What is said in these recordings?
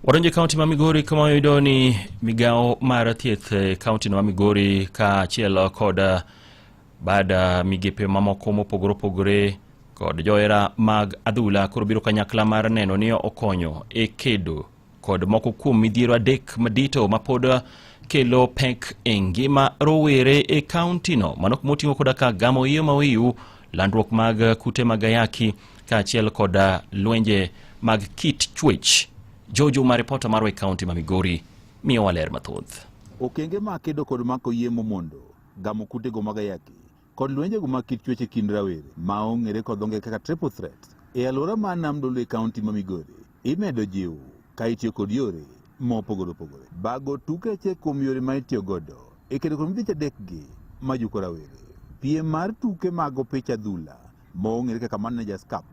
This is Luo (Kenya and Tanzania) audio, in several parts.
Wadonje kaunti ma Migori kama wayudo ni migawo mar thieth e kaunti no ma Migori kaachiel kod eh, bad eh, migepe mamoko mopogore opogore kod johera mag adhula koro biro kanyakla mar neno ni okonyo e kedo kod moko kuom midhiero adek madito mapod eh, kelo pek e ngima rowere e kauntino mano kuma oting'o koda ka gamo iyo mawiu landruok mag kute mag ayaki kaachiel kod ah, lwenje mag kit chuech. Jojo ma ripota mar kaunti ma Migori miyo waler mathoth. Okenge ma kedo kod mako yie momondo, gamo kutego mag ayaki, kod lwenjego mag kit chuech e kind rawere ma ong'ere kod dho ngere kaka triple threat e alwora ma Nam Dolwe e kaunti ma Migori Imedo jiw ka itiyo kod yore ma opogore opogore. Bago tukeche kuom yore ma itiyo godo e kedo kuom dich adekgi ma juko rawere. Piem mar tuke mag opich adhula ma ong'ere kaka Managers Cup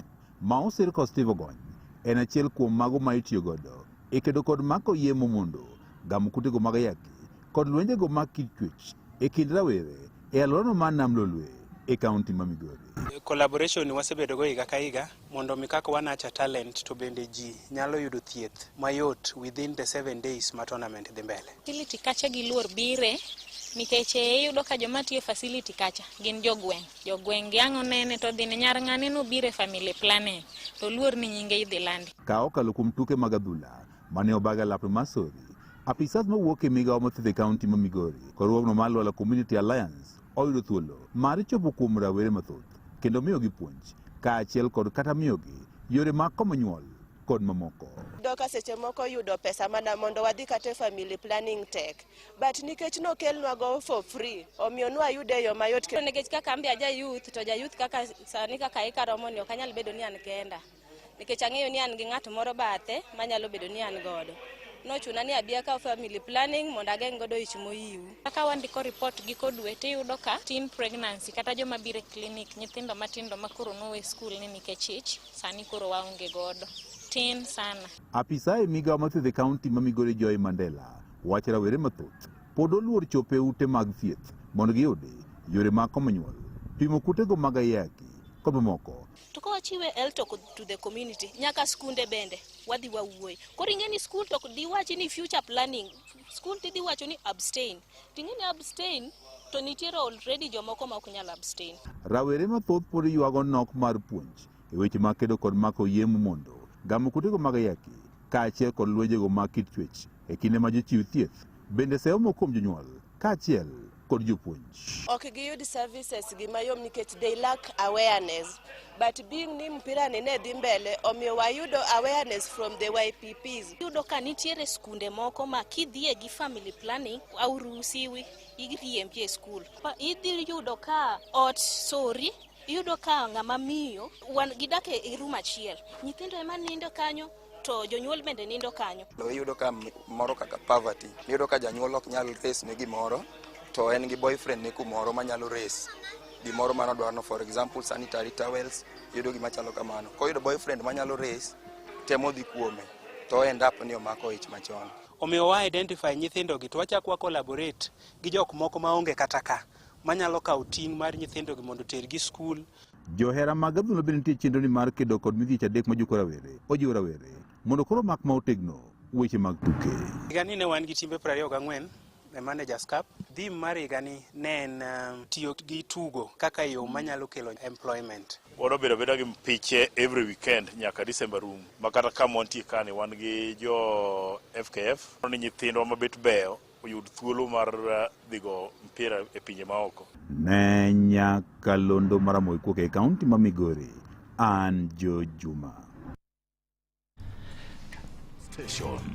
ma osir kod Steve Ogony en achiel kuom mago ma itiyo godo e kedo kod mako yie momondo, gamo kutego mag ayaki kod lwenjego mag kit chuech e kind rawere e alworano mar Nam Lolwe e kaunti ma Migori. collaboration wasebedogo higa ka higa mondo mi kaka wanacha talent to bende ji nyalo yudo thieth mayot within the seven days ma tournament dhi mbele. Facility kacha gi luor bire nikech eh, iyudo ka joma tiyo facility kacha gin jogweng' jogweng' giang'o nene to dhine nyar ng'ane nobire family planning to luor ni nyinge idhi landi. Ka okalo kuom tuke mag adhula mane obaga lap Masori, apisas mawuok e migawo mathieth e kaunti ma Migori, korwogno mar Lwala Community Alliance oyudo thuolo mar chopo kuom rawere mathoth. kendo miyogi puonj kaachiel kod kata miyogi yore mag komo nyuol kod mamoko. Iyudo ka seche moko yudo pesa mana mondo wadhi kata e family planning tek but nikech nokelnwago for free omiyo nwayude e yo mayot. Nikech kaka an be aja youth to ja youth kaka sani kaka ikaromo ni ok anyal bedo ni an kenda. nikech ang'eyo ni an gi ng'at moro bathe manyalo bedo ni an godo nochuna ni abi akaw family planning mondo ageng' godo ich moyiw. Kaka wandiko report giko dwe tiyudo ka teen pregnancy kata joma biro e clinic nyithindo matindo ma koro nowe skul ni nikech ich sani koro waonge godo tin sana. Apisa e migawo mathiedhe kaunti ma Migori Joy Mandela wacho rawere mathoth pod oluor chopo e ute mag thieth mondo giyude yore mag komo nyuol, pimo kutego mag ayaki kod mamoko to ka wachiwe el to to the community nyaka skunde bende wadhi wawuoye koro ing'e ni skul to diwachi ni future planning skul tidhi wacho ni abstain ting'e ni abstain to nitiere already jomoko ma ok nyal abstain rawere mathoth pod ywago nok mar puonj e weche mag kedo kod mako yiem mondo gamo kutego mag ayaki kaachiel kod lwenjego mag kit chwech e kinde ma jochiw thieth bende seyo moko kuom jonyuol kaachiel kod jopuonj. Ok giyud services gi mayom nikech they lack awareness. But being ni mpira ni ne dhi mbele, omiyo wayudo awareness from the YPPs. Yudo ka nitiere skunde moko ma kidhie gi family planning, auruhusiwi iriembi e skul. Idhi yudo ka ot sori iyudo ka ng'ama miyo wan gidake e room achiel nyithindo ema nindo kanyo to jonyuol bende nindo kanyo. Iyudo ka moro kaka poverty, iyudo ka janyuol ok nyal res ne gimoro to en gi boyfriend ne kumoro manyalo res gimoro mano dwarno for example sanitary towels yudo gima chalo kamano koyudo boyfriend manyalo res temo dhi kuome to end up ni omako ich machon omiyo wa identify nyithindo gi to wachak wa collaborate gi jok moko maonge kata ka manyalo kawo ting' mar nyithindo gi mondo otergi skul Johera mag adhula bende nitie chenroni mar kedo kod midhieche adek majuko rawere. Ojiwo rawere mondo koro mak ma otegno weche mag tuke. Higani ne wan gi timbe 24 e Managers Cup. Theme mar higani ne en um, tiyo gi tugo kaka yo manyalo kelo employment. Wado bedo abeda gi piche every weekend nyaka December rum. Ma kata kama wantie kani wan gi jo FKF. Ni nyithindwa mabet beyo oyud thuolo mar eh, dhigo mpira e pinje maoko. Ne nyaka londo maramoy kuok e kaunti ma Migori, an Jo Juma.